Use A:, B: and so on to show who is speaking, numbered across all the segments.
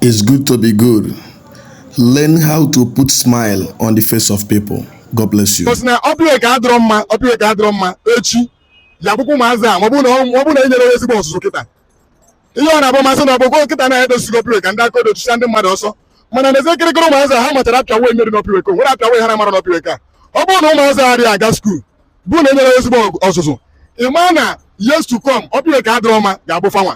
A: It's good to be good. Learn how to put smile on the face of people. God bless you. Because na Upper Iweka adịrọ
B: mma Upper Iweka adịrọ mma echi ya bụkwa ụmụazị a ma ọ bụrụ na enyerọ ha ezigbo ọzụzụ kịta ihe ọ na-abụ ma asị na ọ bụgo kịta na edozigo Upper Iweka ndị aka odo chụcha ndị mmadụ ọsọ mana n'ezie kịrịkịrị ụmụazị a ha machara apịam way e mere n'Upper Iweka o nwerọ apịam way ha na-amarọ n'Upper Iweka ọ bụrụ na ụmụazị a adịghị aga skuul bụ na enyerọ ha ezigbo ọzụzụ ị maa na years to come Upper Iweka adịrọ mma ga-abụ fanwa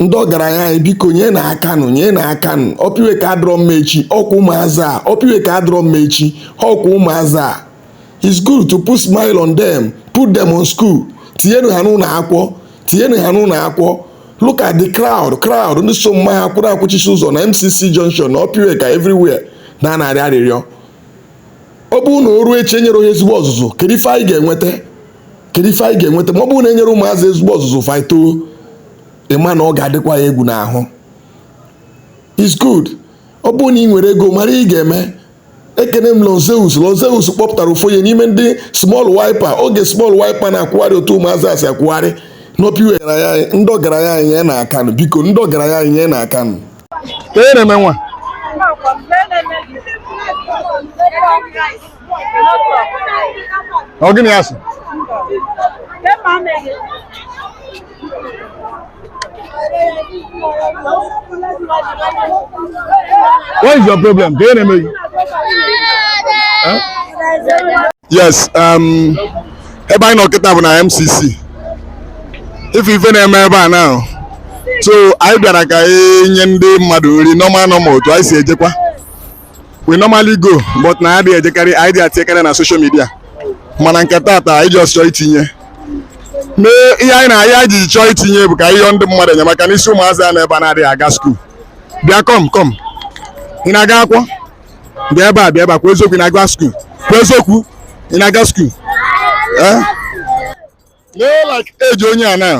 A: ndị ọgaranya anyị biko nyenụ aka nụ nyenụ aka nụ Upper Iweka adịrọ mma echi ọkwa ụmụazị a Upper Iweka adịrọ mma echi ọkwa ụmụazị a it's good to put smile on them put them on school tinyenu ha n'ụlọ akwụkwọ tinyenu ha n'ụlọ akwụkwọ look at the crowd crowd ndị so mma ha kwụrụ kwụchisie ụzọ na MCC junction na Upper Iweka everywhere na-arịọ arịrịọ ọ bụrụ na o ruo echi enyerọ ha ezigbo ọzụzụ kedu ife anyị ga-enweta kedu ife anyị ga-enweta ma ọ bụrụ na enyerọ ụmụazị ezigbo ọzụzụ fa etoo ịma na ọ ga-adịkwa ya egwu n'ahụ it's good ọ bụrụ na ị nwere ego mara ị ga-eme ekene m Lord Zeus Lord Zeus kpọpụtara ụfọdụ ya n'ime ndị small wiper oge small wiper na-akwụgharị otu ụmụazị a si akwụgharị n'Upper Iweka ndị ọgaranya anyị nyenụ aka nụ biko ndị ọgaranya anyị nyenụ aka nụ kee ihe na-eme
B: nwa ọ gịnị asị what is your problem kee ihe na-eme gị Eh? yes um, ebe anyị nọ kịta bụ na MCC ị fụ ife na-eme ebe a now so anyị bịara ka anyị nye ndị mmadụ nri normal normal otu anyị si ejekwa we normally go but anyị adịghị ejekarị anyị adị etinyekarị na social media mana nke taata anyị just chọọ itinye ihe anyị ji chọọ itinye bụ ka ihe ndị mmadụ enyemaka n'isi ụmụazị a nọ ebe a na-adịghị aga skuul bịa come come ị na-aga akwụkwọ bịa ebe a bịa ebe a kwuo eziokwu ị na-aga skuul kwuo eziokwu ị na-aga skuul eh? lee like age onye a now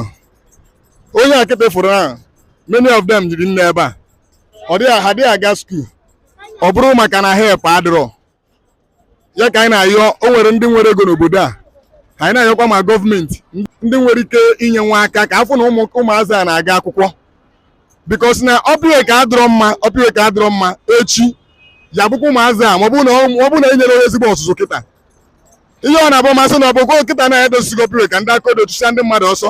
B: onye a kịta ị fụrụ na many of them juru n'ebe a ọ dịghị ha adịghị aga skuul ọ bụrụ maka na help adịrọ ya ka anyị na-ayọ o nwere ndị nwere ego n'obodo a anyị na-ayọkwa ma gọọmenti ndị nwere ike inyenwu aka ka a fụ na ụmụazị a na-aga akwụkwọ because na Upper Iweka adịrọ mma Upper Iweka adịrọ mma echi ya bụkwa ụmụazị a ma ọ bụrụ na enyerọ ha ezigbo ọzụzụ kịta ihe ọ na-abụ ma asị na ọ bụgo kịta na edozigo Upper Iweka ndị aka odo chụcha ndị mmadụ ọsọ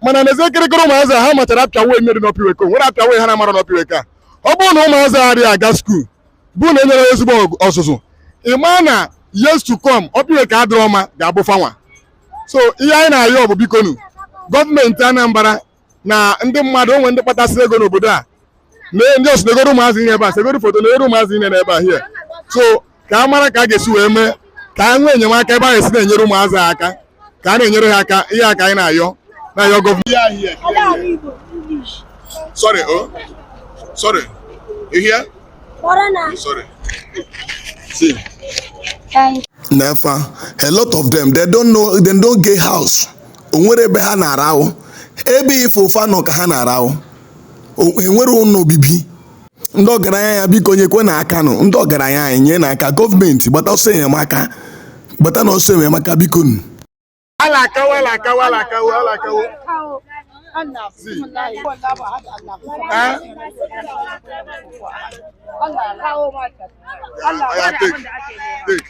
B: mana n'ezie kịrịkịrị ụmụazị ha machara apịam way e mere n'Upper Iweka o nwerọ apịam way ha na-amarọ n'Upper Iweka ọ bụrụ na ụmụazị a adịghị aga skuul bụ na enyerọ ha ezigbo ọzụzụ ị maa na years to come Upper Iweka adịrọ mma ga-abụ fanwa so ihe anyị na-ayọ bụ bikonu gọọmenti Anambra na ndị mmadụ onwe ndị kpatasịrị ego n'obodo a na ndị ọsụ na-egoro ụmụazị ihe ebe a segoro foto na-egoro ụmụazị ihe n'ebe a here so ka a mara ka a ga-esi wee mee ka a nwee enyemaka ebe a ga-esi na-enyere ụmụazị ha aka ka a na-enyere ha aka ihe a ka anyị na-ayọ na-ayọ gọọmenti sorry oh sorry you hear sorry see
A: nee fa a lot of them they don't know they don't get house o nwere ebe ha na-arahụ ebe ife ụfa nọ ka ha na-arahụ O- enwere ụlọ obibi ndị ọgaranya ya biko nyekwe na aka nụ ndị ọgaranya anyị nye na aka gọọmenti gbata ọsọ enyemaka gbata na ọsọ enyemaka biko nụ alakawo alakawo alakawo
B: alakawo Allah kawo mata. Allah Oya, take, take.